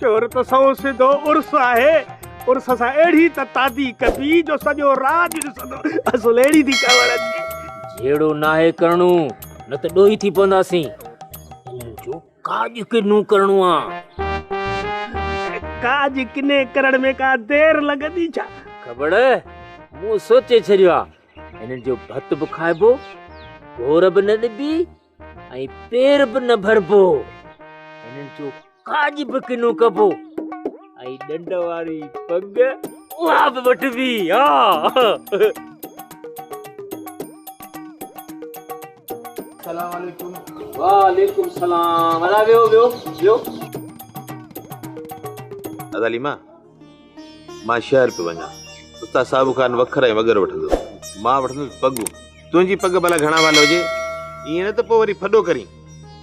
چور ته سئو سڌو عرس آهي عرس سان اهڙي ته تادي ڪبي جو سڄو راڄ ڏسندو اصل اهڙي ٿي چوڻ اچي جهيڙو ناهي ڪرڻو نه ته ڏوهي ٿي پونداسين ان جو ڪاڄ ڪنو ڪرڻو آهي ڪاڄ ڪني ڪرڻ ۾ ڪا دير لڳندي ڇا خبر مون سوچي ڇڏيو آهي انهن جو ڀت به کائبو گهور به نه ڏبي ۽ پير به نه ڀربو، هنن جو ڪاڄ به ڪنو ڪبو ۽ ڏنڊ واري پڳ اها به وٺبي. ها. سلام عليڪم وعليڪم سلام ادا ويهو ويهو ويهو. دادا ليما مان شهر پيو وڃان. استاد صاحب کان وکر ۽ وڳر وٺندو هو. مان وٺندس پڳون. تنهنجي پڳ ڀلا گهڻا وال هجي. ائين نه ته پوء وري ڦڏو ڪرين.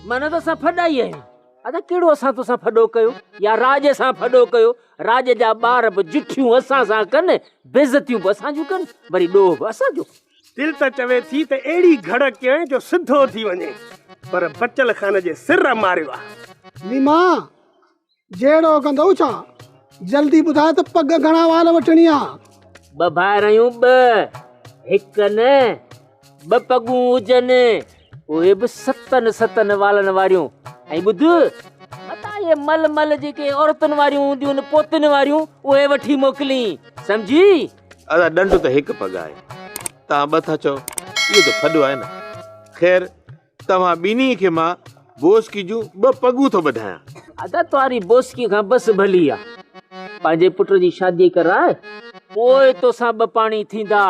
مان نه ته اسان ڦڏا ئي آهيون. ادا ڪهڙو اسان توسان ڦڏو ڪيو يا راڄ سان ڦڏو ڪيو. راڄ جا ٻار به جٺيون اسان سان ڪن، بيعزتيون به اسان جون ڪن، وري ڏوهه به اسان جو ڪن. دل ته چوي ٿي ته اهڙي گهڙ ڪيان جو سڌو ٿي وڃين. پر بچل خان جي سر ماريو آهي. نيما! جهيڙو ڪندئو ڇا؟ جلدي ٻڌاء ته پڳ گهڻا وال وٺڻي آ. ٻه ڀائر آهيون ٻه هڪ نه ٻه پڳون هجن اهي به ستن ستن والن واريون ۽ ٻڌ متان اهي مل مل جيڪي عورتن واريون هونديون آهن پوتين واريون اهي وٺي موڪلين سمجهي. ادا ڏنڊ ته هڪ پڳ آهي تهان ٻه ٿا چئو اهو ته ڦڏو آهي نه خير. توهان ٻنهي کي مان بوسڪي جون ٻه پڳون ٿو ٻڌايان. ادا توهاري بوسڪي کان بس ڀلي آ. پنهنجي پٽ جي شادي ڪرائي پوء توسان ٻه پاڻي ٿيندا.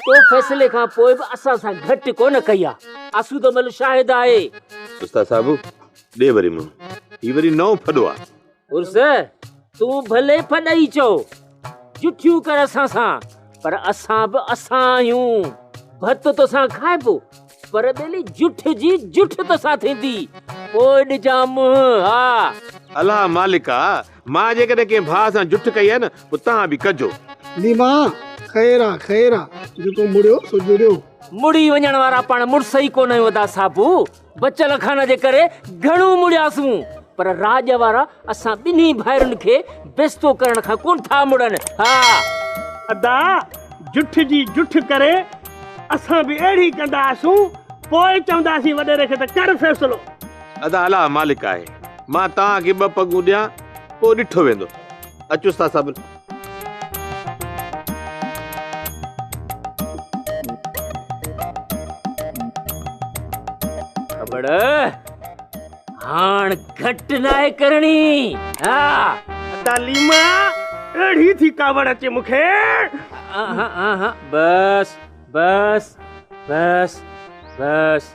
تو فيصلي کان پوء به اسان سان گهٽ ڪونه ڪئي آ. آسوده مل شاهد آهي. استاد صاحب ڏي وري منهن. هي وري نئون ڦڏو آ. عرس، تون ڀلي پھڏئي چئو، جٺيون ڪر اسان سان، پر اسان به اسان آھيون. ڀت توسان کائبو، پر ٻيلي جٺ جي جٺ توسان ٿيندي. پوء ڏجان منھن، ها! الا مالڪ آ، مان جيڪڏھن ڪنھن ڀاء سان جٺ ڪئي آھي نه، پوء توھان به ڪجو. ليما، خير آ، خير آ، جيڪو مڙيو سو جڙيو. مڙي وڃڻ وارا پاڻ مڙس ئي ڪونه آھيون ادا صابو. بچل اکان جي ڪري گهڻو مڙياسون، پر راڄ وارا اسان ٻنهي ڀائرن کي بيستو ڪرڻ کان ڪونه ٿا مڙن. ها! ادا، جٺ جي جٺ ڪري اسان به اهڙي ئي ڪنداسون، پوء چونداسين وڏيري کي ته ڪر فيصلو. ادا، الله مالڪ آهي، مان توهان کي ٻه پڳون ڏيان، پوء ڏٺو ويندو. اچوس ٿا صاحب. کٻڙ هاڻ گهٽ ناهي ڪرڻي ها ادا ليما اڙي ٿي ڪاوڙ اچي مونکي بس بس بس بس